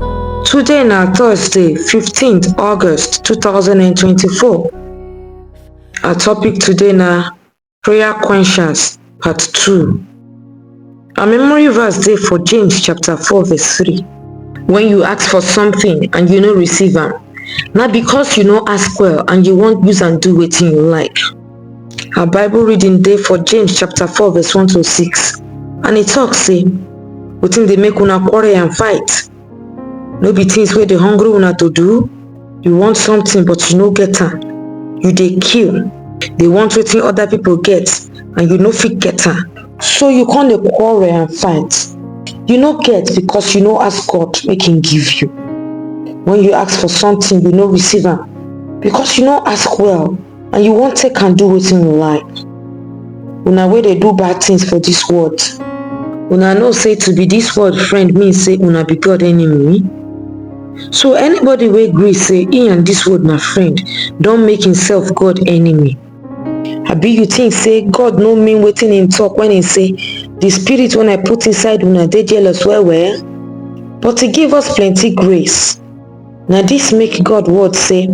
Today na Thursday, 15th August 2024. Our topic today na prayer questions part 2. Our memory verse dey for James chapter 4 verse 3. When you ask for something and you no receive am, na because you no ask well and you wan use am do wetin you like. Our Bible reading dey for James chapter 4 verse 1 to 6 and e talk say wetin dey make una quarrel and fight no be things wey dey hungry una to do you want something but you no get am you dey kill dey want wetin other people get and you no fit get am so you come dey quarrel and fight you no get because you no ask god make him give you when you ask for something you no receive am because you no ask well and you wan take am do wetin you like una wey dey do bad things for dis world una know say to be dis world friend mean say una be god enemy so anybody wey gree say he and dis world na friend don make himself god enemy abi you think say god no mean wetin him talk when he say the spirit wey i put inside una dey jealous well well but he give us plenty grace na dis make god word sey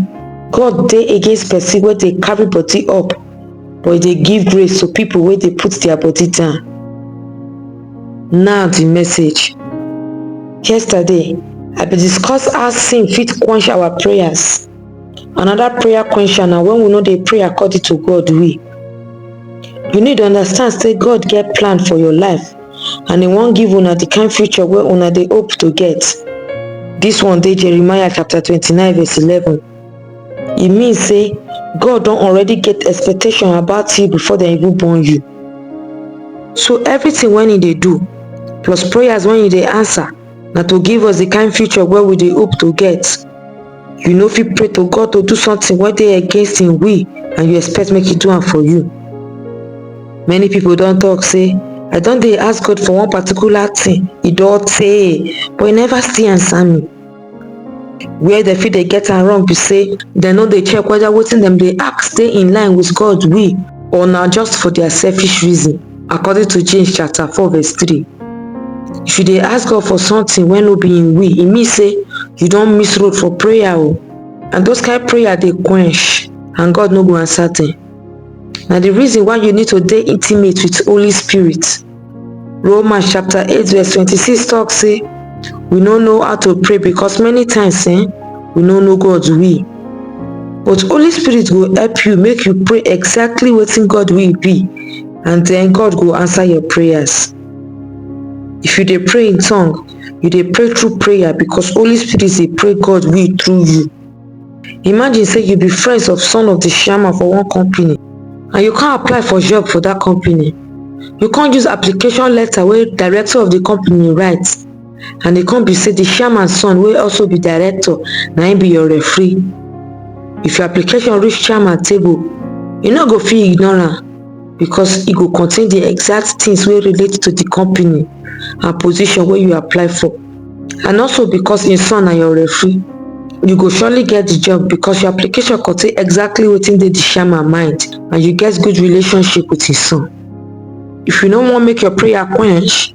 god dey against pesin wey dey carry body up but e dey give grace to pipo wey dey put dia body down now di message yesterday i bin discuss how sin fit quench our prayers anoda prayer quencher na wen we no dey pray according to god way you need understand sey god get plan for your life and im wan give una di kind future wey una dey hope to get dis one dey jeremiah chapter twenty nine verse eleven e mean say god don already get expectation about you before dem even born you so everything wey you dey do plus prayers wey you dey answer na to give us di kain future wey we dey hope to get you no fit pray to god to do something wey dey against im will and you expect make e do am for you many pipo don tok say i don dey ask god for one particular thing e don tey but e never still answer me where dem fit dey get am wrong be say dem no dey check whether wetin dem dey ask dey in line with god will or na just for their selfish reason According to James chapter 4 verse 3, if you dey ask God for something wey no be im will, e mean say you don miss road for prayer o. And those kind prayer dey quench and God no go answer them. Na the reason why you need to dey intimate with Holy Spirit. Romans chapter 8 verse 26 talk say we no know how to pray because many times eh, we no know God's will. but holy spirit go help you make you pray exactly wetin God will be and then God go answer your prayers. If you dey pray in tongue, you dey pray through prayer because holy spirit dey pray God will through you. Imagine say you be friends of son of the chairman for one company and you can't apply for job for that company. You can't use application letter where director of the company writes and e come be say di chairman son wey also be director na im be your referee if your application reach chairman table e no go fit ignore am becos e go contain di exact tins wey relate to di company and position wey you apply for and also becos im son na your referee you go surely get di job becos your application contain exactly wetin dey di chairman mind and you get good relationship wit im son if you no wan make your prayer quench